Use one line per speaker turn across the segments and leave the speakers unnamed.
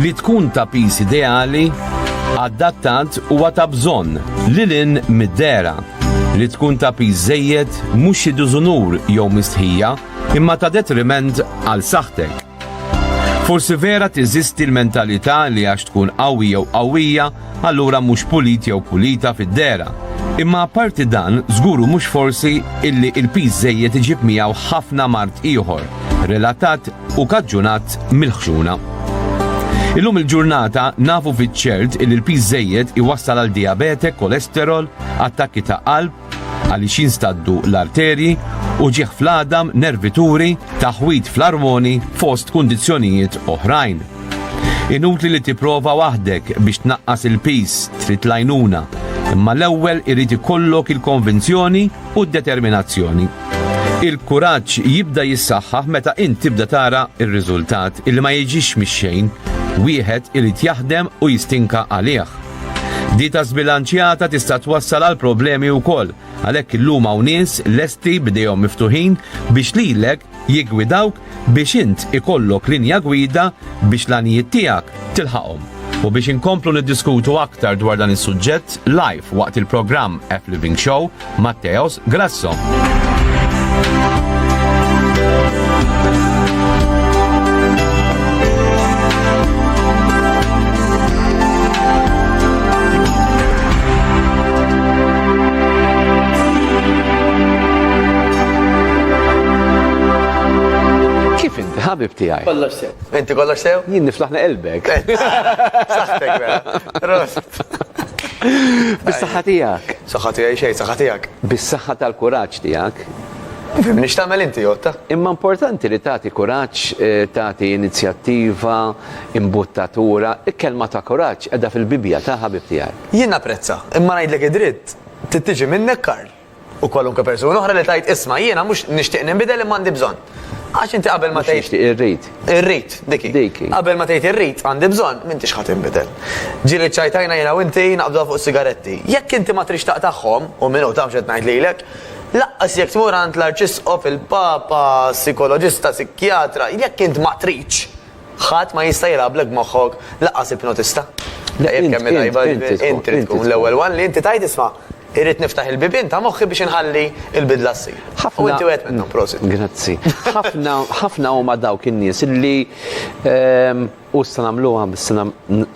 li tkun ta' pis ideali, adattat u ta' bżonn li lin mid-dera li tkun ta' pis żejjed mhux xi dużunur jew mistħija imma ta' detriment għal saħtek. Forsi vera tiżisti l-mentalità li għax tkun qawwi jew qawwija, allura mhux pulit jew pulita fid-dera. Imma apparti dan, żguru mhux forsi illi il-piż żejjed iġib miegħu ħafna mard ieħor, relatat u kaġġunat mill-ħxuna. Illum il-ġurnata nafu fiċ-ċert illi l-piż żejjed iwassal għal diabete, kolesterol, attakki ta' qalb, għaliex jinstaddu l-arterji, uġigħ fl-għadam, nervituri, taħwid fl-armoni fost kundizzjonijiet oħrajn. Inutli li tipprova waħdek biex tnaqqas il-pis trid lajnuna, imma l-ewwel irid ikollok il-konvinzjoni u d-determinazzjoni. Il-kuraġġ jibda jissaħħaħ meta int tibda tara r-riżultat il ma jiġix mix-xejn, wieħed irid jaħdem u jistinka għalih. Dieta żbilanċjata tista' twassal għal problemi wkoll, għalhekk illum hawn nies lesti b'idejhom miftuħin biex lilek jiggwidawk biex int ikollok linja gwida biex l-għanijiet tiegħek tilħaqhom. U biex inkomplu niddiskutu aktar dwar dan is-suġġett live waqt il-programm F Living Show, Matteos Grasso. ħabib tiegħi. Kollox sew. Inti kollox
sew? Jien
niflaħna elbek.
Saħtek
vera. Rost.
Bis-saħħa tiegħek. Saħħa tiegħi xejn, saħħa
tiegħek. Bis-saħħa tal-kuraġġ
tiegħek. Nifhimni x'tagħmel
inti Jotta. Imma importanti li
tagħti kuraġġ, eh, tagħti inizjattiva, imbuttatura, il-kelma ta' kuraġġ qiegħda fil-Bibbja ta' ħabib tiegħek. Jien napprezza, imma
ngħidlek id-dritt, tittiġi minnek Karl. U kwalunkwe persuna oħra li tajt isma' jiena mhux nixtieq ninbidel imma għandi bżonn. Għax inti qabel ma tgħid. Tixtieq irrid. Irrid,
diki.
Diki. Qabel ma tgħid irrid għandi bżonn, m'intix ħadd inbidel. Ġieli ċajtajna jiena u inti naqbdu fuq sigaretti. Jekk inti ma trix taqtagħhom, u minnu taf x'qed ngħid lilek, laqqas jekk tmur għand l-arċisqof, il-papa, sikoloġista, sikjatra, jekk int ma tridx, Ħadd ma jista' jilgħablek moħħok lanqas ipnotista. Tajjeb kemm hi tajba din il-. Int trid tkun l-ewwel one li inti tgħid isma', irrid niftaħ il-bibien ta' moħħi biex inħalli l-bidla ssir. U inti wieħed minnhom, prosit. Grazzi. Ħafna,
ħafna huma dawk in-nies li u issa nagħmluha issa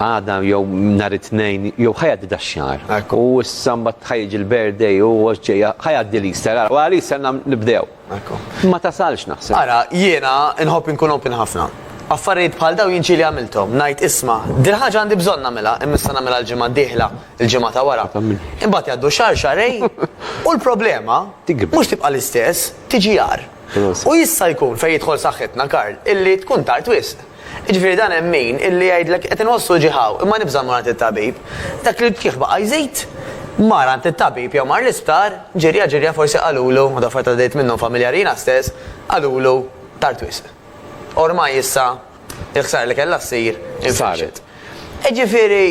għada jew nhar it-Tnejn jew ħajgħaddi dax-xahar. U issa mbagħad ħajġi l-birthday u ġejja ħajgħaddi l-Easter. Ara, wara l-Easter nibdew. Ma tasalx naħseb. Ara, jiena
nħobb inkun open ħafna. Affarijiet bħal daw jinċi li għamilthom, ngħid isma, dil ħaġa għandi bżonn nagħmilha, immissa nagħmilha l-ġimgħa d-dieħla, il-ġimgħa ta' wara. Imbagħad jgħaddu xahar xarej u l-problema mhux tibqa' l-istess, tiġi jar. U jista' jkun fejn jidħol saħħitna Karl, illi tkun tard wisq. Jiġifieri dan hemm min illi jgħidlek qed inħossu ġieħ hawn, imma nibża' mmur għand it-tabib. Dak li l-ġieħ baqa' jżid, mar għand it-tabib jew mar l-isptar, ġirja ġirja forsi qalulu, u dawk affarijiet għaddejt minnhom familjari jiena stess, qalulu tard wisq. Ormai issa l-ħsara li kellha ssir infixxet. Jiġifieri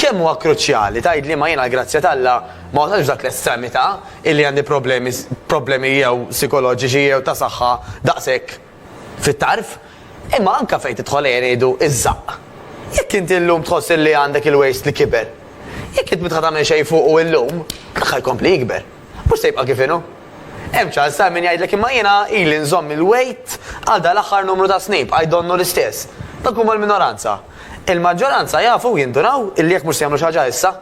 kemm huwa kruċjali tgħidli imma jiena l-grazzja t'Alla ma wasaltx f'dak l-estremità illi għandi problemi problemi jew sikoloġiċi jew ta' saħħa daqshekk fit-tarf, imma anke fejn tidħol ejja ngħidu iż-żaqq. Jekk inti llum tħoss illi għandek il-waist li kiber, jekk int m'intħa tagħmel xejn fuqu illum, l-aħħar jkompli jikber. Mhux se jibqa' kif inhu. Hemm ċans sar min jgħidlek imma jiena ili nżomm il-waist għal dal-aħħar numru ta' snin bqajt donnu l-istess. Dawk huma l-minoranza. Il-maġġoranza jafu u jindunaw illi jekk mhux se jagħmlu xi ħaġa issa,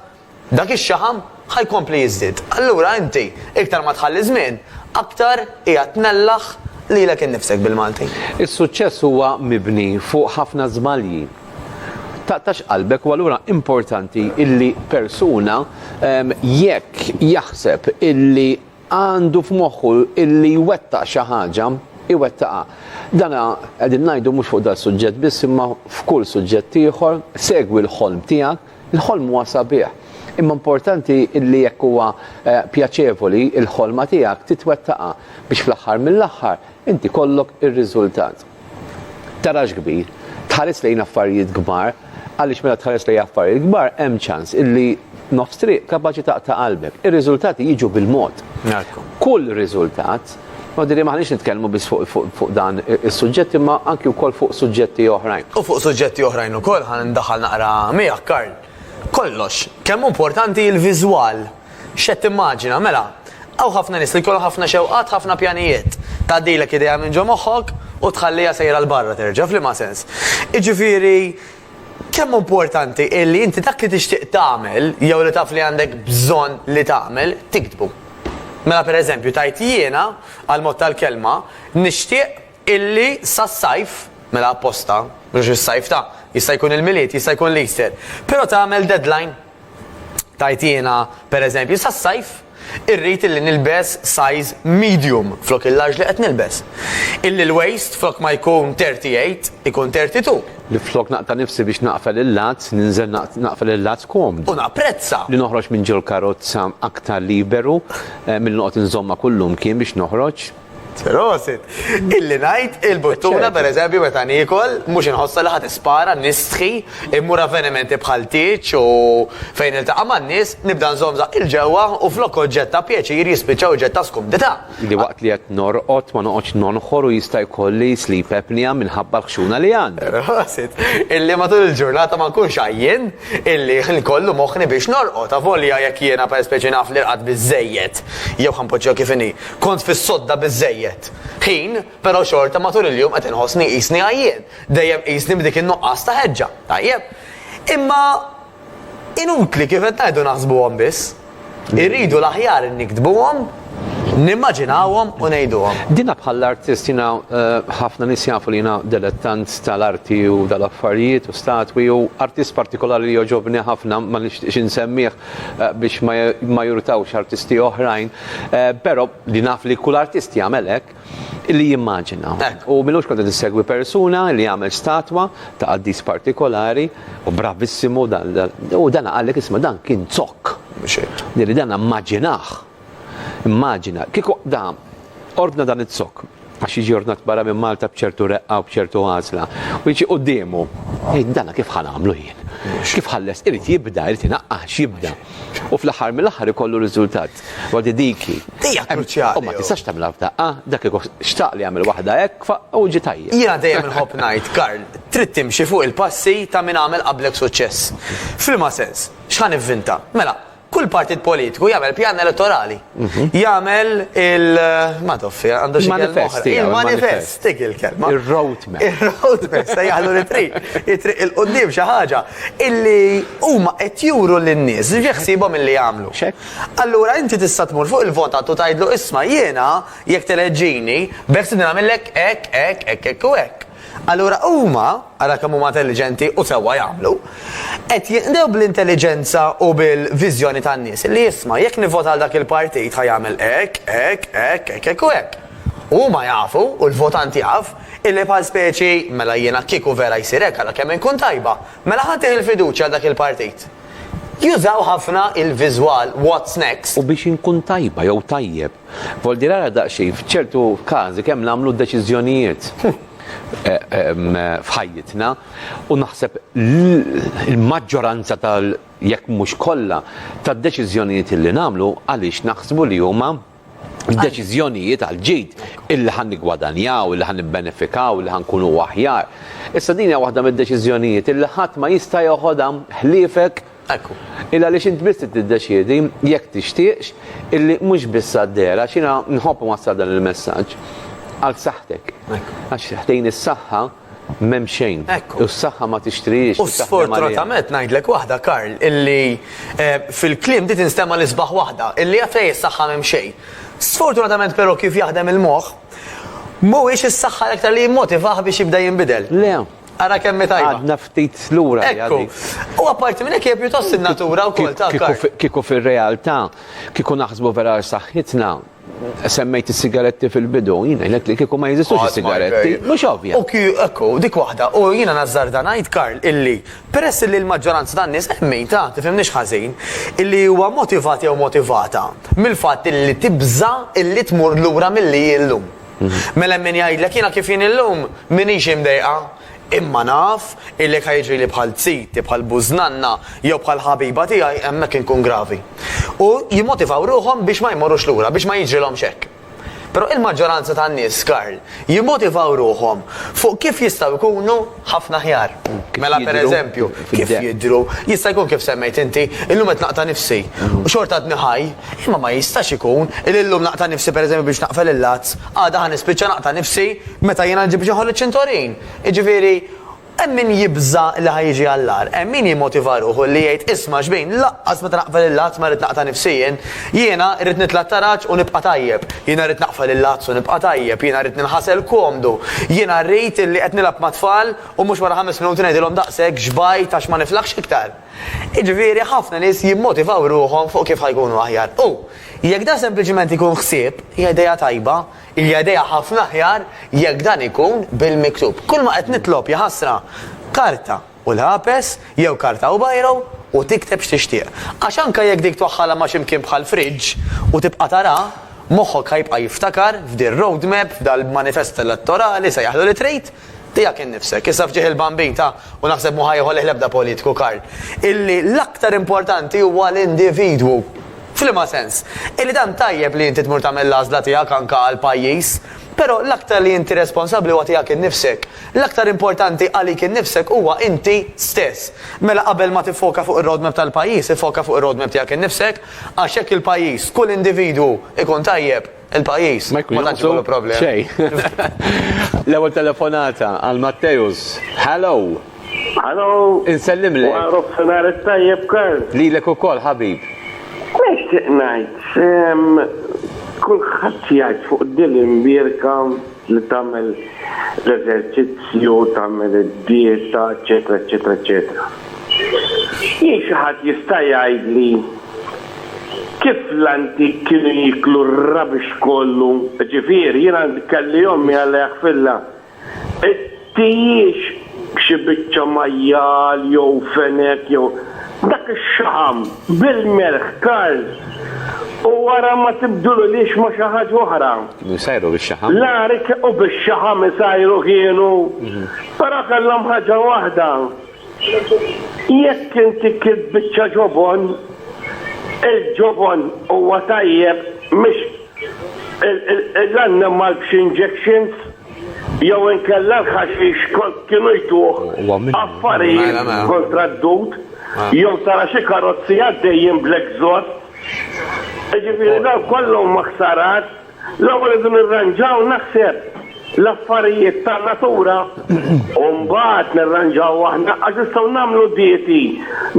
Dak ix-xaħam ħa jkompli jiżdied. Allura inti iktar ma tħalli żmien, aktar qiegħed tnellaħ lilek innifsek bil-Malti. Is-suċċess huwa
mibni fuq ħafna żbalji. Taqtax qalbek u allura importanti illi persuna jekk jaħseb illi għandu f'moħħu illi jwettaq xi ħaġa, iwettaqha. Dana qegħdin ngħidu mhux fuq dal-suġġett biss imma f'kull suġġett ieħor, segwi l-ħolm tiegħek, Il-ħolm huwa sabiħ, imma importanti li jekk huwa pjaċevoli, il-ħolma tiegħek titwettaqha biex fl-aħħar mill-aħħar inti jkollok ir-riżultat. Tarax kbir, tħares lejn affarijiet kbar, għaliex meta tħares lejn affarijiet kbar hemm ċans illi nofs triq kapaċi taqta' qalbek. Ir-riżultati jiġu bil-mod. Kull riżultat Huwa jidhirli
ma aħniex nitkellmu biss fuq fuq fuq dan is-suġġett imma anki wkoll fuq suġġetti oħrajn. U fuq suġġetti oħrajn
ukoll ħa ndaħħal naqra miegħek Karl. Kollox, kemm hu importanti l-viżwal. X'qed timmaġina, mela, hawn ħafna nies li jkollhom ħafna xewqat, ħafna pjanijiet. Tgħaddilek idea minn ġo moħħok u tħalliha sejra 'l barra terġa', f'liema sens? Jiġifieri, Kemm hu importanti li inti dak li tixtieq tagħmel jew li taf li għandek bżonn li tagħmel, tiktbu. Mela pereżempju tgħid jiena, għall-mod tal-kelma, nixtieq illi sas-sajf, mela apposta, mhux is-sajf ta', jista' jkun il-Milied, jista' jkun l-Easter, però tagħmel deadline. Tgħid jiena, per eżempju, sas-sajf irrid illi nilbes size medium flok il-large li qed nilbes. Illi l-waist flok ma jkun 38 ikun 32. Li flok naqta'
nifsi biex naqfel il-latz, ninżel naqfel il-latz komdu. U napprezza.
Li noħroġ minn
ġol-karozza aktar liberu milli noqgħod inżommha kull lum kien biex noħroġ. Prosit!
Illi ngħid il-buttuna pereżempju meta niekol, mhux inħossha li ħadd ispara, nistħi, immur avvenimenti bħal tieġ u fejn niltaqa' man-nies, nibda nżomm żaqqi 'l ġewwa u flok oġġett ta' pjaċir jispiċċa oġġett ta' skumdità. Li waqt li qed
norqod ma noqgħodx nonħor u jista' jkolli sleep apnea minħabba l-ħxuna li għandi. Prosit! Illi
matul il-ġurnata ma nkunx għajjien, illi nkollu moħħni biex norqod, avolja jekk jiena pereżpeċi naf li rqadt biżżejjed jew ħa npoġġiha kif inhi. Kont fis-sodda biżżejjed ħin, però xorta matul il-jum qed inħossni qisni għajjien. Dejjem qisni b'dik in-nuqqas ta' ħeġġa. Tajjeb. Imma inutli kif qed ngħidu naħsbuhom biss. Irridu l-aħjar niktbuhom, nimmaġinawhom u ngħiduhom. Dina bħall-artist
jiena eh, ħafna nies jafu li jiena delettant tal-arti u dal-affarijiet u statwi u artist partikolari li joġobni ħafna ma nixtieqx insemmih biex ma jirutawx artisti oħrajn, pero li naf li kull artist jagħmel hekk, li jimmaġina. U m'ilux kont qed insegwi persuna li għamel statwa ta' qaddis partikolari u bravissimu u dana qal li isma' dan kien zokk. Li dana mmaġinah. Immaġina, kieku qda, ordna dan iz-zokk, għax jiġi ordnat barra minn Malta b'ċertu reqqa u b'ċertu għażla, u jiġi quddiemu, jgħid dana kif ħa nagħmlu jien? X'kif ħalles irid jibda, irid inaqqax jibda. U fl-aħħar mill-aħħar ikollu riżultat. Għadi diki. Dija kruċjali. U
ma tistax
tagħmilha
f'daqqa,
dak xtaq li jagħmel waħda hekk u ġi tajjeb. Jiena dejjem inħobb ngħid,
Karl, trid timxi fuq il-passi ta' min għamel qablek suċċess. F'liema sens, x'ħa nivvinta? Mela, Kull partit politiku jagħmel pjan elettorali. Mhm. Jagħmel il ma toffi għandu xi manifest. Il-manifest dik il-kelma. Ir-roadmap.
Ir-roadmap se
jagħmlu li triq. Jitriq il-qudiem xi ħaġa illi huma qed juru lin-nies ġeħsibhom illi jagħmlu. Allura inti tista' tmur fuq il-votat u tgħidlu isma' jiena jekk teleġġini beħsibni nagħmellek hekk hekk hekk hekk u hekk. Allura huma, ara kemm huma intelliġenti u sewwa jagħmlu, qed jinqdew bl-intelliġenza u bil-viżjoni tan-nies li isma' jekk nivvota għal dak il-partit ħa jagħmel hekk, hekk, hekk, hekk, hekk u hekk. U huma jafu, u l-votant jaf, illi bħal speċi, mela jiena kieku vera jsir hekk ara kemm inkun tajba, mela ħa ntih il-fiduċja għal dak il-partit. Jużaw ħafna il-viżwal what's next? U biex inkun tajba
jew tajjeb, Voldi rara daqsxejn f'ċertu każi kemm nagħmlu deċiżjonijiet f'ħajjitna u naħseb il-maġġoranza tal jekk mhux kollha tad-deċiżjonijiet li nagħmlu għaliex naħsbu li huma deċiżjonijiet għal ġid illi ħan niggwadanjaw, illi ħan nibbenefikaw, illi ħan kunu aħjar. Issa din hija waħda mid-deċiżjonijiet illi ħadd ma jista' joħodha ħliefek Ekku. Illa għaliex int biss trid tiddeċiedi, jekk tixtieqx, illi mhux biss għad-dehra, għax jiena nħobb inwassal dan il-messaġġ, għal saħħtek. Ekku. Għax ħdejn is-saħħa m'hemm xejn. Ekku. U s-saħħa ma tixtrihiex. U sfortunatament
ngħidlek waħda, Karl, illi eh, fil-kliem di tinstema' l-isbaħ waħda, illi għafej is-saħħa m'hemm xejn. Sfortunatament però kif jaħdem il-moħħ, mhuwiex is-saħħa l-aktar li jimmotivah biex jibda jinbidel. Le, Ara kemm
hi tajba.
Għadna ftit lura.
Ekku. U
apparti minn hekk hija pjuttost in-natura wkoll ta' kart. Kieku fir-realtà,
kieku naħsbu vera għal saħħitna, semmejt is-sigaretti fil-bidu, jien ngħidlek li kieku ma jeżistux is-sigaretti, mhux ovvja. U kju, ekku, dik waħda.
U jiena nażżarda ngħid, Karl, illi peress illi l-maġġoranza tan-nies, hemm min, ta, tifhimnix ħażin, illi huwa motivat jew motivata mill-fatt illi tibża' illi tmur lura milli hi llum. Mela hemm min jgħidlek jiena kif jien illum m'iniex imdejqa, imma naf illi jekk ħa jiġrili bħal ziti, bħal bużnanna jew bħal ħabiba tiegħi hemmhekk inkun gravi. U jimmotivaw ruħhom biex ma jmorrux lura, biex ma jiġrilhomx hekk. Però il-maġġoranza tan-nies, Karl, jimmotivaw ruħhom fuq kif jistgħu jkunu Ħafna aħjar. Mela pereżempju, kif jidhru, jista' jkun kif semmejt inti, illum qed naqta' nifsi u xorta għadni ħaj, imma ma jistax ikun li llum naqta' nifsi pereżempju biex naqfel il-lazz, għada ħa nispiċċa naqta' nifsi meta jiena nġib biex inħoll iċ-ċintorin. Jiġifieri, hemm min jibża' li ħa jiġi għall-agħar, hemm min jimmotiva ruħu li jgħid isma' xbin, lanqas meta naqfel il-lazz ma rrid naqta' nifsi jien. Jiena rrid nitla' t-taraġ u nibqa' tajjeb. Jiena rrid naqfel il-lagħzz u nibqa' tajjeb. Jiena rrid ninħasel komdu. Jiena rrid illi qed nilgħab mat-tfal u mhux wara ħames minuti ngħidilhom daqshekk xbajt għax ma niflaħx iktar. Jiġifieri ħafna nies jimmotivaw ruħhom fuq kif ħa jkunu aħjar. U, jekk dan sempliċement ikun ħsieb, hija idea tajba. Hija idea ħafna aħjar jekk dan ikun bil-miktub. Kulma qed nitlob, jaħasra! Karta. u lapes jew karta u biro u tikteb x'tixtieq. Għax anke jekk dik twaħħalha ma' xi mkien bħal fridge u tibqa' tara, moħħok ħa jibqa' jiftakar f'din roadmap, f'dal manifest elettorali, sejjaħlu li trid, tiegħek innifsek. Issa f'ġieħ il-bambin ta' u naħseb mhu ħa jieħolih l-ebda politiku, Karl, illi l-aktar importanti huwa l-individwu. F'liema sens? Illi tant tajjeb li inti tmur tagħmel l-għażla tiegħek anke għall-pajjiż, però l-aktar li inti responsabbli huwa tiegħek innifsek. L-aktar importanti għalik innifsek huwa inti stess. Mela qabel ma tiffoka fuq ir-roadmap tal-pajjiż, iffoka fuq ir-roadmap tiegħek innifsek, għax jekk il-pajjiż, kull individwu ikun tajjeb, il-pajjiż ma tantx ikollu problemi. Ma jkun jonqsu xejn.
L-ewwel telefonata għal Matteus. Hallo! Hallo!
Insellimlek.
Wara nofsinhar
it-tajjeb Karl. Lilek ukoll ħabib.
Nixtieq
ngħid, kulħadd jgħid fuq Dylan Bierka, li tagħmel l-eżerċizzju, tagħmel id-dieta, eċċetera, eċċetera, eċċetera. Jien xi ħadd jista' jgħidli kif l-antik kienu jieklu r-rubbish kollu, jiġifieri jien għandi kelli ommi Alla jaħfirlha, T'hijiex xi biċċa majjal jew fenek jew. Dak ix-xaħam bil-melħ karż u wara ma tibdilulhiex ma' xi ħaġa oħra. Kienu jsajru bix-xaħam?
La, u
bix-xaħam isajru kienu. Però kellhom ħaġa waħda, jekk inti kilt biċċa ġobon, il-ġobon huwa tajjeb mhix l-annimal b'xi injections. jew inkella l-ħaxix kont kienu jtuh affarijiet mela, mela. kontra d-dud, mela. jew tara xi karozzi għaddejjin bl-exhaust. Ġifieri daw kollhom ma ħsarat, l-ewwel idu nirranġaw naħseb l-affarijiet ta' natura u mbagħad nirranġaw aħna għax nistgħu nagħmlu dieti,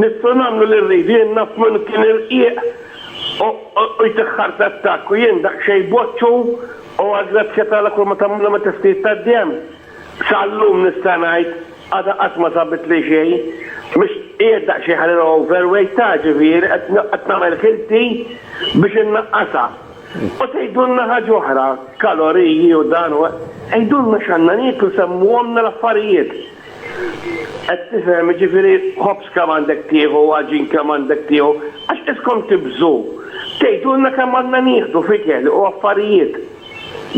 nistgħu nagħmlu li rridu jien naf minn kien irqiq u jtiħħar tattak u jien daqsxejn boċċu U għall-grazzja t'Alla kulma tagħmilhom it-tisnid tad-demm. Sal-lum nista' ngħid għadha qatt ma sabitli xejn. Mhux qiegħed daqsxejn ħalil over weight ta' ġifieri qed nagħmel ħilti biex innaqqasha. U tgħidulna ħaġa oħra, kaloriji u dan u hekk, għidulna x'għandna nieklu semmuhomlna l-affarijiet. Qed tifhem, jiġifieri ħobż kemm għandek tieħu, għaġin kemm għandek tieħu, għax qiskom tibżgħu tgħidulna kemm għandna nieħdu f'ikel u affarijiet.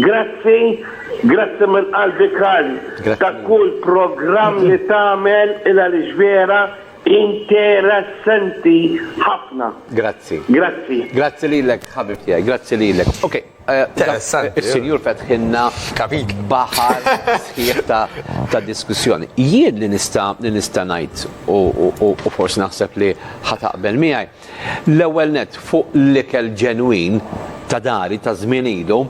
Grazzi, grazzi minn qalbi Karl ta' kull programm li tagħmel il-għaliex vera interessanti ħafna. Grazzi.
Grazzi. Grazzi
lilek
ħabib tiegħi, grazzi lilek. Okay. Interessanti. Is-Sinjur fetħilna kapit baħar sħiħ ta' diskussjoni. Jien li nista' li nista' ngħid u forsi naħseb li ħataqbel miegħi. L-ewwel net fuq l-ikel ġenwin ta' dari ta' żmien ilu,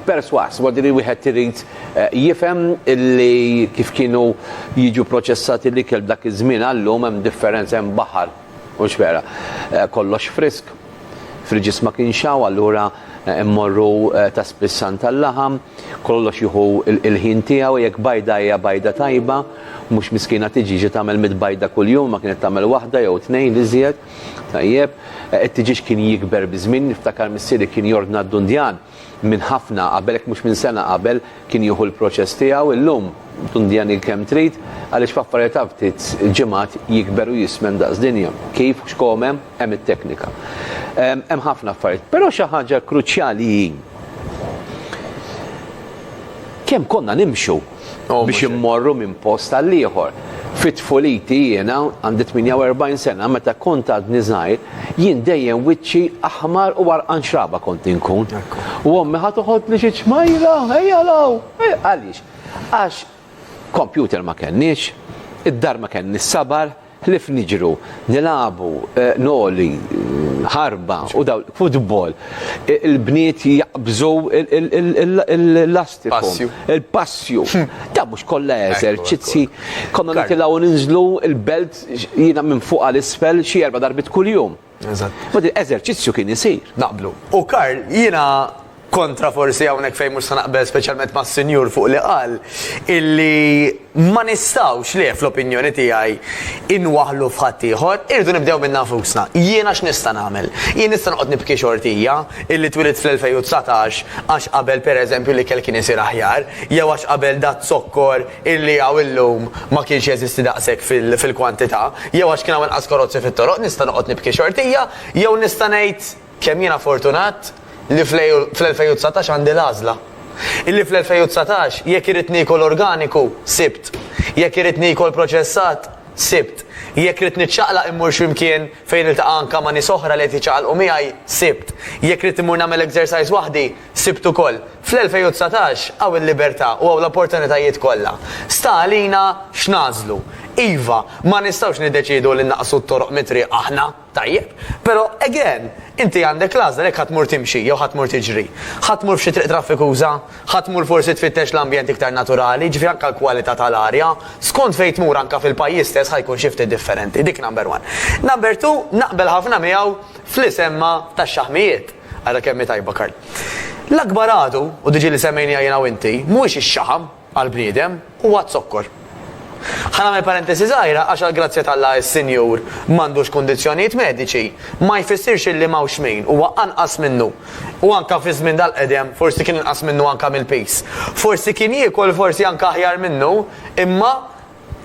perswas, wadi li wieħed irid eh, jifhem illi kif kienu jiġu proċessati l-ikel dak iż-żmien għallum hemm differenza hemm baħar U x'wera, kollox frisk. Friġis ma kienx hawn, allura mmorru ta' spiss għand tal-laħam, kollox jieħu l-ħin tiegħu, jekk bajda hija bajda tajba, mhux miskina tiġi ġiet tagħmel mitt bajda kuljum, imma kienet tagħmel waħda jew tnejn, l-iżjed. Tajjeb. It-tiġieġ kien jikber biż-żmien, niftakar missieri kien jordna d-dundjan minn ħafna qabel, jekk mhux minn sena qabel, kien jieħu l-proċess tiegħu, illum tundjani kemm trid għaliex f'affarijiet ta' ftit ġimgħat jikber u jismen daqs dinja. Kif u x'kom hemm, hemm it-teknika. Hemm ħafna affarijiet, però xi ħaġa kruċjali hi kemm konna nimxu. biex immorru minn post għal ieħor. Fit-tfuliti jiena għandi 48 sena meta kont għadni żgħir, jien dejjem wiċċi aħmar u għarqan xraba kont inkun. U ommi ħadd toħodni xi ċmajra, ejja law, għaliex? Għax kompjuter ma kenniex, id-dar ma kenni sabar, Ħlief niġru, nilagħbu, noli, ħarba u dawl, futbol, il-bniet jaqbżu l-lastiku, il-passju. Dawn mhux kollha eżerċizzi. Konna nitilgħu ninżlu l-belt, jiena minn fuq għal isfel xi erba' darbiet kuljum. Eżatt. Ma din
eżerċizzju kien
isir. Naqblu. U Karl,
jiena kontra forsi hawnhekk fejn mhux se naqbel speċjalment mas-sinjur fuq li qal illi ma nistgħux li fl-opinjoni tiegħi inwaħlu f'ħadd ieħor, irdu nibdew minn nafusna. Jiena x'nista' nagħmel? Jien nista' noqgħod nibki xortija illi twilit fl-2019 għax qabel pereżempju li kelli kien isir aħjar, jew għax qabel dat zokkor illi hawn illum ma kienx jeżisti daqshekk fil-kwantità, jew għax kien hawn inqas karozzi fit-toroq, nista' noqgħod nibki xortija, jew nista' ngħid kemm jiena fortunat li fl-2019 għandi l-għażla. Illi fl-2019 jekk irrid niekol organiku, sibt. Jekk irrid niekol proċessat, sibt. Jekk ridt niċċaqlaq immur x'imkien fejn niltaqa' anke ma' nies oħra li qed jiċċaqalqu miegħi, sibt. Jekk ridt immur nagħmel exercise waħdi, Sibt ukoll, fl-2019 hawn il-libertà u hawn l-opportunitajiet kollha. Sta għalina x'nagħżlu. Iva, ma nistgħux niddeċiedu li nnaqqsu t-toroq mit-triq aħna, tajjeb. Però, again, inti għandek l-għażla jekk ħa tmur timxi jew ħa tmur tiġri. Ħa tmur f'xi triq traffikuża? Ħa tmur forsi tfittex l-ambjent iktar naturali, jiġifieri anke l-kwalità tal-arja. Skont fejn tmur anke fil-pajjiż stess ħa jkun xi ftit differenti. Dik number one. Number two, naqbel ħafna miegħu f'li semma tax-xaħmijiet. Ara kemm hi tajba, Karl. L-akbar għadu, u diġi li semmejniha jiena u inti, mhuwiex ix-xaħam, għall-bniedem, huwa z-zokkor. Ħa nagħmel parentesi żgħira għax għall-grazzja t'Alla s-Sinjur m'għandux kundizzjonijiet mediċi ma jfissirx illi m'hawnx min huwa anqas minnu. U anke fi żmien dal-qedem forsi kien inqas minnu anke mill-piż. Forsi kien jiekol forsi anke aħjar minnu imma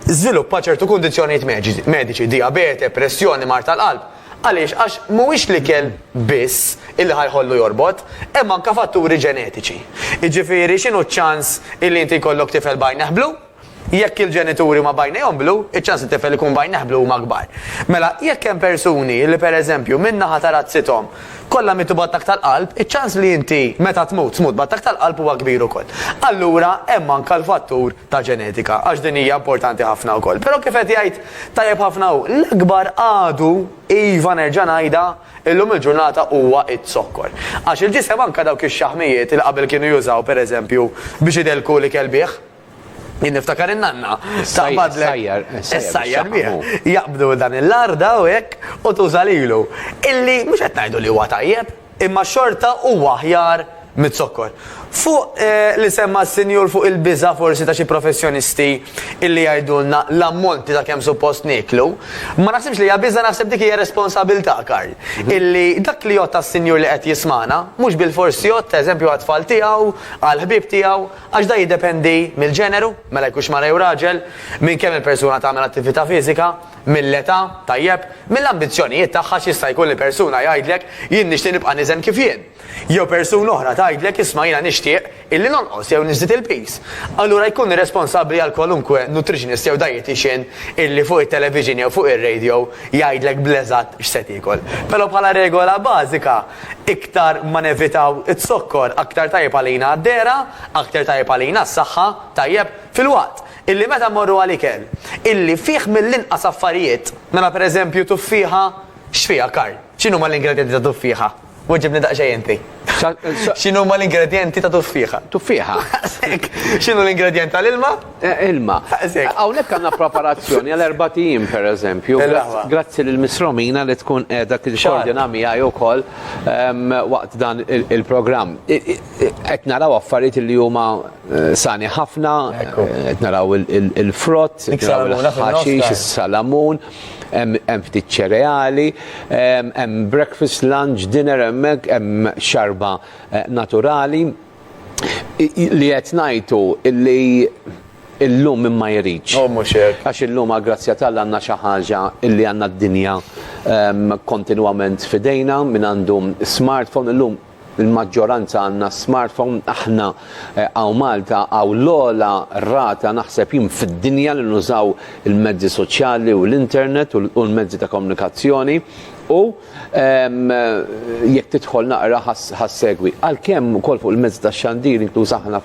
żviluppa ċertu kundizzjonijiet mediċi, dijabete, pressjoni, mard tal-qalb. Għaliex? Għax mhuwiex l-ikel biss illi ħa jħollu jorbot, hemm anke fatturi ġenetiċi. Jiġifieri x'inhu ċ-ċans illi inti jkollok tifel b'għajnejh blu? Jekk il-ġenituri huma b'għajnejhom blu, iċ-ċans li t-tifel ikun b'għajnejh blu huma kbar. Mela, jekk hemm persuni illi pereżempju minn naħa ta' razzithom kollha mietu b'attakk tal-qalb, iċ-ċans li inti meta tmut tmut b'attakk tal-qalb huwa kbir ukoll. Allura hemm anke l-fattur ta' ġenetika, għax din hija importanti ħafna wkoll. Però kif qed jgħid tajjeb ħafna hu, l-akbar għadu, iva nerġa' ngħidha, illum il-ġurnata huwa z-zokkor. Għax il-ġisem anke dawk ix-xaħmijiet li qabel kienu jużaw pereżempju biex idellku l-ikel bih, jien niftakar in-nanna taqbadlek. Sajjar, sajjar bih. Jaqbdu dan il-larda u hekk u tuża lilu. Illi mhux qed ngħidu li huwa tajjeb, Imma xorta huwa aħjar miz-zokkor. Fuq li semma s-Sinjur fuq il-biża' forsi ta' xi professjonisti illi jgħidulna l-ammonti ta' kemm suppost nieklu, ma naħsibx li hija biża' naħseb dik hija responsabilità, Karl, illi dak li jgħodd għas-Sinjur li qed jismagħna mhux bilfors jgħodd eżempju għat-tfal tiegħu, għall-ħbieb tiegħu, għax dan jiddependi mill-ġeneru, mela jkunx mara jew raġel, minn kemm il-persuna tagħmel attività fiżika. Mill-età, tajjeb, mill-ambizzjonijiet tagħha x'jista' jkun li persuna jgħidlek, jien nixtieq nibqa' niżen kif jien? Jew persuna oħra tgħidlek, isma' jiena nixtieq illi nonqos jew niżdied il-piż. Allura jkun irresponsabbli għal kwalunkwe nutritionist jew dietician illi fuq it-television jew fuq ir-radio jgħidlek bl-eżatt x'se tiekol. Però bħala regola bażika, iktar ma nevitaw iz-zokkor, aktar tajjeb għalina d-dehra, aktar tajjeb għalina s-saħħa, tajjeb, filwaqt. Illi meta mmorru għal ikel, illi fih mill-inqas affarijiet, mela per eżempju tuffieħa, x'fiha Karl? X'inhuma l-ingredjenti ta' tuffieħa? Weġibni daqsxejn inti. X'inhuma l-ingredjenti ta' tuffieħa? Tuffieħa. Daqshekk.
X'inhu
l-ingredjent tal-ilma? Ilma.
Daqshekk. Hawnhekk għandna preparazzjoni għal erbat ijiem per eżempju. Il-laħwa. Grazzi lil Miss Romina li tkun qiegħda tikkordina miegħi wkoll waqt dan il-programm. Qed naraw affarijiet illi huma Sani ħafna, qed naraw il-frott, il-ħaxix, is-salamun, hemm ftit ċereali, hemm breakfast, lunch, dinner hemmhekk, hemm xarba eh, naturali. Li qed ngħidu li illum minn ma jridx. Oh, Għax illum għal-grazzja tal għanna xi ħaġa illi għandna d-dinja ehm, kontinwament fidejna minn għandu smartphone illum il-maġġoranza għandna smartphone, aħna hawn Malta hawn l-ogħla rata naħseb jien fid-dinja li nużaw il-mezzi soċjali u l-internet u l-mezzi ta' komunikazzjoni u jekk tidħol naqra ħassegwi. Għalkemm ukoll fuq il-mezzi tax-xandir inkluż aħna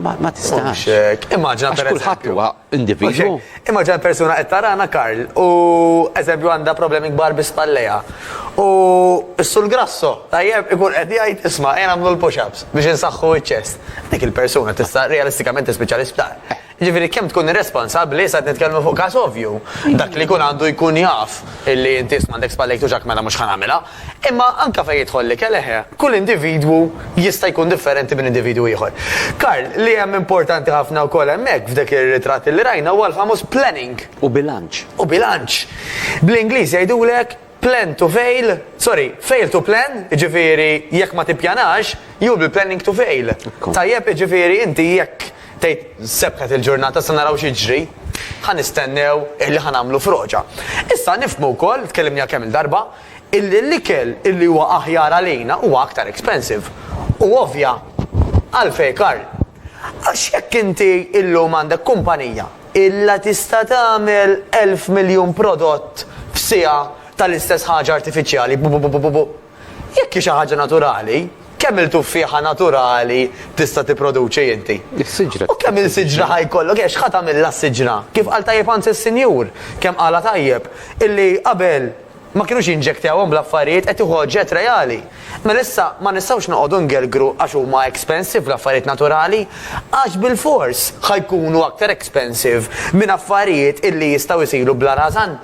Ma tistax. Immaġina per
kulħadd huwa
individwu. Immaġina persuna
qed tarana Karl u eżempju għandha problemi kbar bi spalleja. U s-sul grasso tajjeb ikun qed jgħid isma' jien nagħmlu l-push-ups biex insaħħu ċ-ċest. Dik il-persuna tista' realistikament tispiċċa l-isptar. Ġifieri kemm tkun irresponsabbli sa nitkellmu fuq każ ovvju. Dak li jkun għandu jkun jaf illi inti isma' għandek spallejk tuġak mela mhux ħa nagħmilha. Imma anke fejn jidħol l-ikel, eħe, kull individwu jista' jkun differenti minn individwu ieħor. Karl, li hemm importanti ħafna wkoll hemmhekk f'dek ir-ritratt li rajna huwa l-famuż planning. U bilanċ.
U bilanċ.
Bl-Ingliż jgħidulek plan to fail, sorry, fail to plan, jiġifieri jekk ma tippjanax, you'll be planning to fail. Tajjeb, jiġifieri inti jekk tgħid sebħet il-ġurnata issa naraw x'jiġri, ħa nistennew illi ħa nagħmlu froġa. Issa nifhmu wkoll, tkellimniha kemm-il darba, illi l-ikel illi huwa aħjar għalina huwa aktar expensive. U ovvja. Għalfejn Karl? Għax jekk inti illum għandek kumpanija illa tista' tagħmel elf miljun prodott f'siegħa tal-istess ħaġa artifiċjali bu bu bu bu jekk hi xi ħaġa naturali kemm il tuffieħa naturali tista' tipproduċi inti? Is-siġra. U kemm il
siġra ħa
jkollok għax ħa tagħmilha s-siġra. Kif qal tajjeb anzi s-sinjur, kemm qalha tajjeb, illi qabel Ma kinux jinġektewhom bl-affarijiet, qed tieħu oġġett reali. Mela issa ma nistgħux noqogħdu ngergru għax huma expensive l-affarijiet naturali, għax bilfors ħa jkunu aktar expensive minn affarijiet illi jistgħu jsiru bla rażan,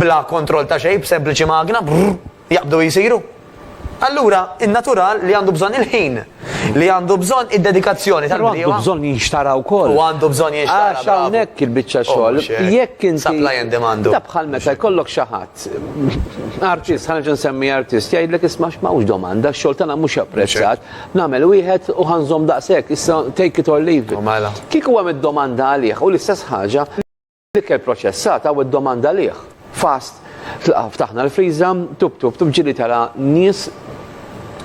bla kontroll ta' xejn b'sempliċi magna, brrr, jaqbdu u jsiru. Allura, in-natural li għandu bżonn il-ħin, li għandu bżonn id-dedikazzjoni tal-bdiewa. Però għandu bżonn jinxtara
wkoll. U għandu bżonn jinxtara. Għax
hawnhekk il-biċċa
oh, xogħol. Jekk inti. Supply and demand. Da bħal
meta jkollok
xi ħadd. Artist, ħanġa nsemmi artist, jgħidlek isma' x'mawx domanda, x-xogħol tagħna mhux apprezzat. Nagħmel wieħed u ħanżom daqshekk, issa take it or leave. Mela. Kieku hemm id-domanda għalih u l-istess ħaġa. L-ikel proċessat hawn id-domanda għalih. Fast, tlaqa' ftaħna l-friża, tub tub tub ġieli tara nies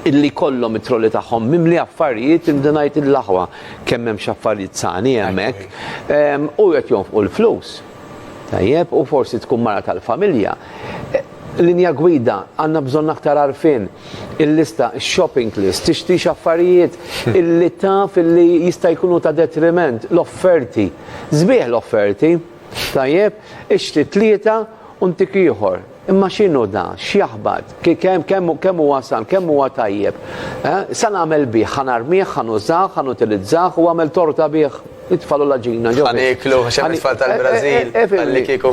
illi jkollhom it-trolli tagħhom mimli affarijiet irridu ngħid il-aħwa kemm hemm xi affarijiet sani hemmhekk. U qed jonfqu l-flus. Tajjeb, u forsi tkun mara tal-familja. Linja gwida, għandna bżonn aktar għarfien. Il-lista, shopping list, tixtrix affarijiet illi taf illi jista' jkunu ta' detriment, l-offerti. Sbieħ l-offerti. Tajjeb, ixtri tlieta u ntik ieħor. Imma x'inhu da? X'jaħbad? Kemm huwa san? Kemm huwa tajjeb? Sa nagħmel bih? Ħa narmih? Ħa nużah? Ħa nutilizzah? U għamel torta bih? It-tfal u l-għaġina ġo. Għan iklu, xem it-tfal
tal-Brazil, għalli kiku.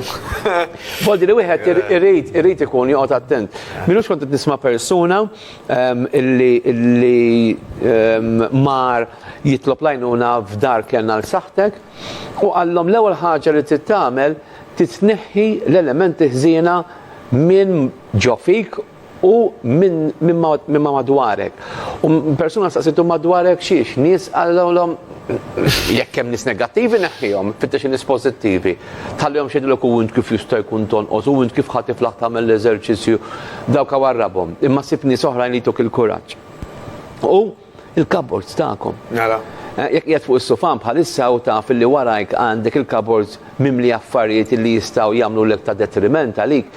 Bodi
li wieħed irrit, irrit ikun joqgħod attent. Minu xkont qed nisma' persuna illi illi mar jitlob lajnuna f'dar kellna l-saħtek u għallhom l-ewwel ħaġa li tittamel titneħħi l-elementi ħżiena minn ġo fik u minn min ma, min ma madwarek. U persuna staqsitu madwarek xiex, nies għallom jekk hemm nies negattivi neħħihom, fittex nies pożittivi. Tħallihom xedilok u int kif jista' jkun tonqos u int kif ħatiflaħ tagħmel l-eżerċizzju dawk warrabhom. Imma sib nies oħrajn li jtuk il-kuraġġ. U Il-cupboards tagħkom. Nara. Eh, jekk qiegħed fuq is-sufan bħalissa u taf li warajk għandek il-cupboards mimli affarijiet li jistgħu jagħmlu lek ta' detriment għalik,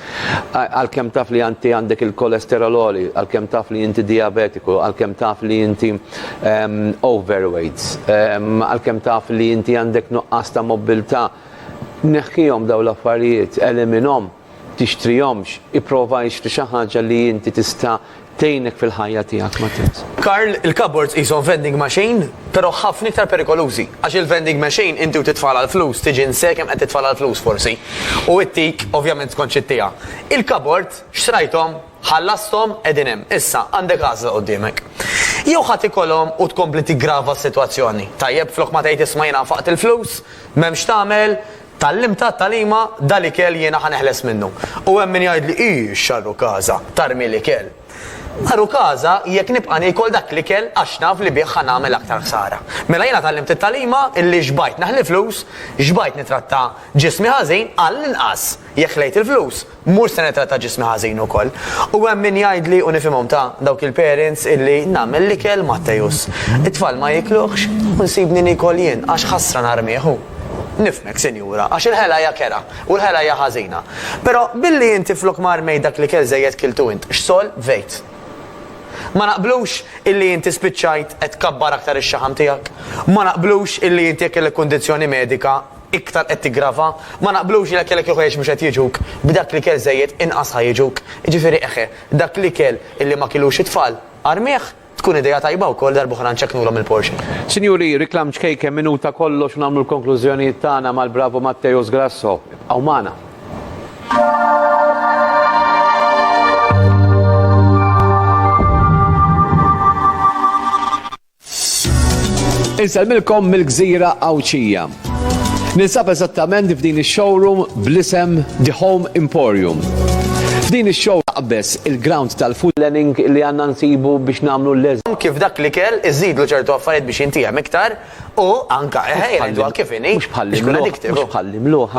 għalkemm taf li għanti għandek il-kolesterol oli, għalkemm taf li inti diabetiku, għalkemm taf li inti ehm, overweight, ehm, għalkemm taf li inti għandek nuqqas ta' mobilità, neħħihom daw l-affarijiet, eliminhom tixtrihomx, ipprova ixtri xi ħaġa li inti tista' tgħinek fil-ħajja tiegħek ma tibż. Karl, il-cupboards
qishom vending machine, però ħafna iktar perikolużi. Għax il-vending machine inti u titfagħalha l-flus tiġi nse kemm qed titfagħalha l-flus forsi. U ittik, ovvjament skont x'ittiha. Il-cupboard, xtrajthom, ħallasthom, qegħdin hemm. Issa, għandek għażla quddiemek. Jew ħa tikolhom u tkompli tiggrava s-sitwazzjoni. Tajjeb, flok ma tgħid isma' jiena nfaqt il-flus, m'hemmx tagħmel, Tgħallimtha t-tagħlima, Da l-ikel jiena ħa neħles minnu. U hemm min jgħidli, Ih, x'għarru każha, tarmi l-ikel! Għarru każha jekk nibqa' niekol dak l-ikel għax naf li bih ħa nagħmel aktar ħsara. Mela jiena tgħallimt it-tagħlima illi xbajt naħli flus, xbajt nitratta ġismi ħażin, għall-inqas, jekk ħlejt il-flus, Mhux se nittratta ġismi ħażin ukoll. U hemm min jgħidli u nifhimhom ta', dawk il-parents illi nagħmel l-ikel Matteus. It-tfal ma jiekluhx u nsibni niekol jien għax ħasra narmih hu. Nifhmek, sinjura, għax il-ħela hija kerha u l-ħela hija ħażina. Però billi inti flok ma rmejt dak l-ikel żejjed kiltu int, x'sol vejt? Ma naqblux illi inti spiċċajt qed tkabbar aktar ix-xaħam tiegħek? Ma naqblux illi inti jekk kellek kundizzjoni medika iktar qed tiggrava, ma naqblux li dak kellek jew ħwejjeġ mhux qed jiġuk, b'dak l-ikel żejjed inqas ħa jiġuk, jiġifieri eħe, dak l-ikel illi ma kilux it-tfal, armih, tkun idea tajba wkoll darb'oħra nċekknulhom il-portion. Sinjuri, reklam
ċkejken minuta kollox u nagħmlu l-konklużjonijiet tagħna mal-bravu Matteus Grasso. Ibqgħu magħna. Insellmilkom mill-gżira Għawdxija. Ninsab eżattament f'din ix-showroom bl-isem The Home Emporium. F'din ix-show taqbeż il-ground tal-food planning li għandna nsibu biex nagħmlu l-eż. Kif dak l-ikel
iżidlu ċertu affarijiet biex jintiehem iktar u anke jgħidwa kif inhi. Mhux bħall-imluħ,
mhux bħall-imluħ.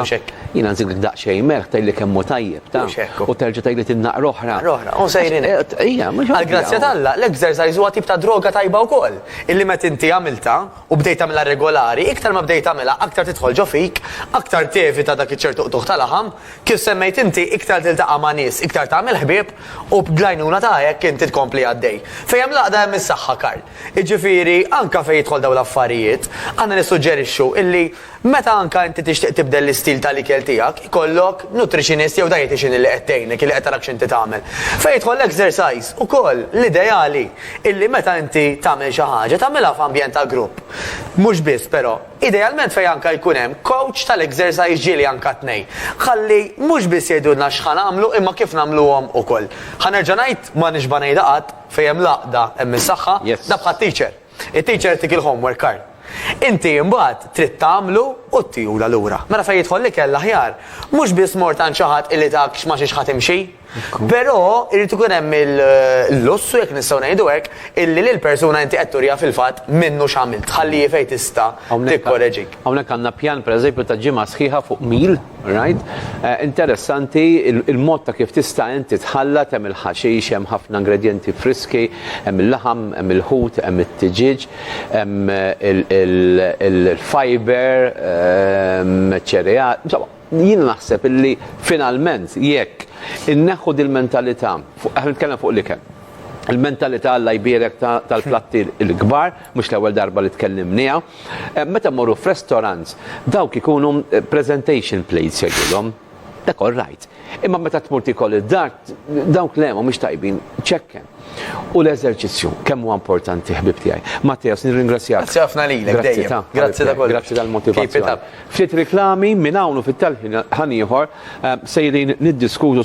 Jiena nżidlek daqsxejn melħ tgħidli kemm hu tajjeb. Mhux hekk hu. U terġa' tgħidli tinnaqra oħra. Naqra oħra. U sejrin hekk. Ejja, mhux
hekk. Għall-grazzja t'Alla, l-exercise huwa tip ta' droga tajba wkoll, illi meta inti għamiltha, u bdejt tagħmilha regolari, iktar ma bdejt tagħmilha, aktar tidħol ġo fik, aktar tevita dak iċ-ċertu qtugħ ta' laħam, kif semmejt inti, iktar tiltaqa' ma' nies, iktar tagħmel ħbieb, u bl-għajnuna ta' hekk inti tkompli għaddej. Fejn hemm l-għaqda hemm is-saħħa, Karl. Jiġifieri, anke fejn jidħol dawn l-affarijiet, aħna nissuġġerixxu illi, Meta anke inti tixtieq tibdel l-istil ta' l-ikel tiegħek, ikollok nutritionist jew dietician li qed tgħinek, li qed tarax x'inti tagħmel. Fejn jidħol l-exercise ukoll, l-ideali illi meta inti tagħmel xi ħaġa, tagħmilha f'ambjent ta' grupp. Mhux biss, però, idealment fejn anke jkun hemm coach ta' l-exercise ġieli anke t-tnejn. Ħalli mhux biss jgħidulna x'ħa nagħmlu imma kif nagħmluhom ukoll. Ħa nerġa' ngħid, ma nixba' ngħidha qatt, fejn hemm l-għaqda hemm is-saħħa, da bħat-teacher. It-teacher tik il-homework card. Inti imbagħad trid tagħmlu u ttihula lura. Mela fejn jidħol l-ikel l-aħjar, mhux biss mort għand xi ħadd illi tak x'ma xiex ħa timxi, però jrid ikun hemm il-lussu jekk nistgħu ngħidu hekk illi lill-persuna inti qed turiha fil-fatt minnu x'għamilt, tħalli hi fejn tista' tikkoreġik. Hawnhekk għandna pjan
pereżempju ta' ġimgħa sħiħa fuq mil, right? Eh, interessanti il-mod ta' kif tista' inti tħallat hemm il-ħaxix, hemm ħafna ingredjenti friski, hemm il-laħam, hemm il-ħut, hemm it-tiġiġ, hemm eh, il-fiber, eh, ċereal, insomma, jien naħseb illi finalment jekk inneħħu dil-mentalità, fuq nitkellem fuq l-ikel, il-mentalità għalla jbierek tal-platti l-kbar, mhux l-ewwel darba li tkellimniha, meta mmorru f'restorants dawk ikunu presentation plates jgħidulhom. Dak all right. Imma meta tmur tikol id-dar dawk le mhumiex tajbin. Ċekken. U l-eżerċizzju kemm huwa importanti ħbib tiegħi. Matteos, nirringrazzjak. Grazzi ħafna lilek
dejjem. Grazzi ta' kollox. Grazzi tal-motivazzjoni.
Ftit riklami minn hawn u fit-talħin ħanieħor sejrin niddiskutu